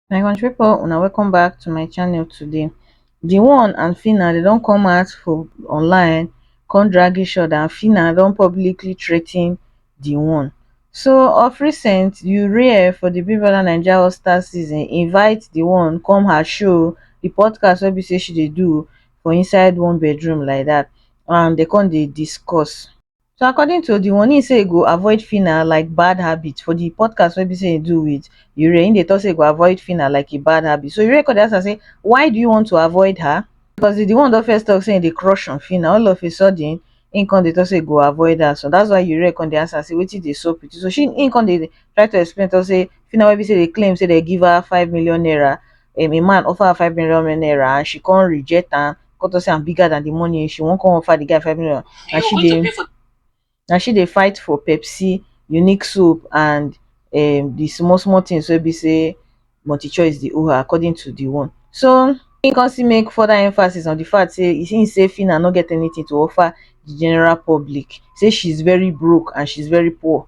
my country people una welcome back to my channel today the one and fina they don't come out for online come drag each other and fina don't publicly threaten the one so of recent urea for the big brother naija all star season invite the one come her show the podcast wey be say she dey do for inside one bedroom like dat and dey come dey discuss. So according to Odiwon, im say e go avoid Phyna like bad habit for di podcast wey be say im do wit Yurie, im dey talk say e go avoid Phyna like a bad habit. So Yurie come dey ask am say why do you want to avoid her? Because di one don first talk say im dey crush on Phyna, all of a sudden im come dey talk say e go avoid her. So that's why Yurie come dey ask am say wetin dey sup wit you? So she im come dey try to explain talk say Phyna wey be say dey claim say dey give her five million naira um a man offer her five million naira and she come reject am, come talk say I'm bigger than the money, she wan come offer the guy five million. Na she dey na she dey fight for Pepsi, Unique soap and um the small small things wey be say multi choice dey owe her according to the one. So he come still make further emphasis on the fact say he say Phyna no get anything to offer the general public, say she's very broke and she's very poor.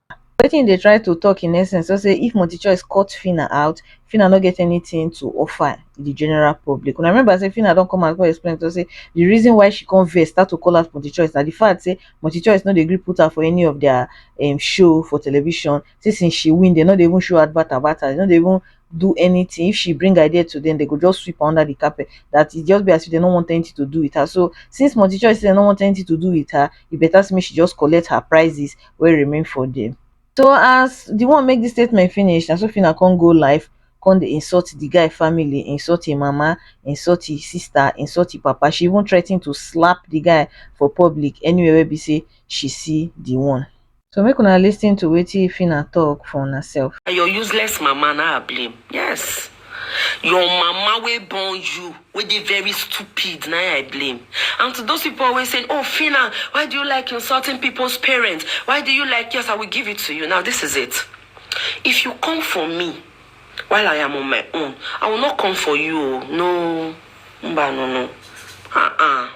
wetin im dey try to tok in essence na say if multichoice cut phinah out phinah no get anytin to offer di general public una remember say phinah don come out come explain tok say di reason why she come vex start to call out multichoice na di fact say multichoice no dey gree put her for any of dia um show for television say since she win dem no dey even show advert about her dem no dey even do anytin if she bring idea to dem dem go just sweep am under di carpet dat e just be as if dem no want anytin to do wit her so since multichoice say dem no want anytin to do wit her e beta say make she just collect her prizes wey remain for dia. So as di one make dis statement finish na so Phyna come go live come dey insult di guy family, insult im mama, insult im sister, insult im papa, she even threaten to slap di guy for public anywhere wey be say she see di one. So make una listen to wetin Phyna talk for una self. Na your useless mama na I blame, yes. Your mama wey born you wey dey very stupid na I blame and to those people always saying oh Phyna why do you like insulting people's parents why do you like yes I will give it to you now this is it if you come for me while I am on my own I will not come for you oh no mba no no ah ah.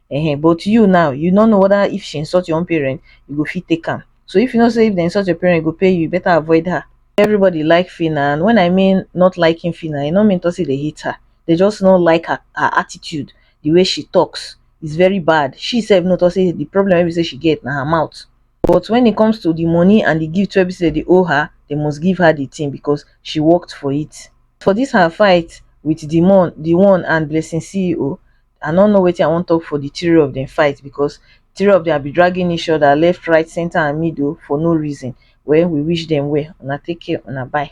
um but you now you no know whether if she insult your own parent you go fit take am so if you know say if they insult your parent e go pay you you better avoid her everybody like Phyna and when I mean not liking Phyna e no mean to say they hate her they just no like her, her attitude the way she talks is very bad she sef know to say the problem wey be say she get na her mouth but when it comes to the money and the gift wey be say they owe her they must give her the thing because she worked for it for this her fight with the mon the one and blessing ceo I no know wetin I wan talk for the three of them fight because three of them be dragging each other left, right, center and middle for no reason. Well, we wish them well. Una take care, una bye.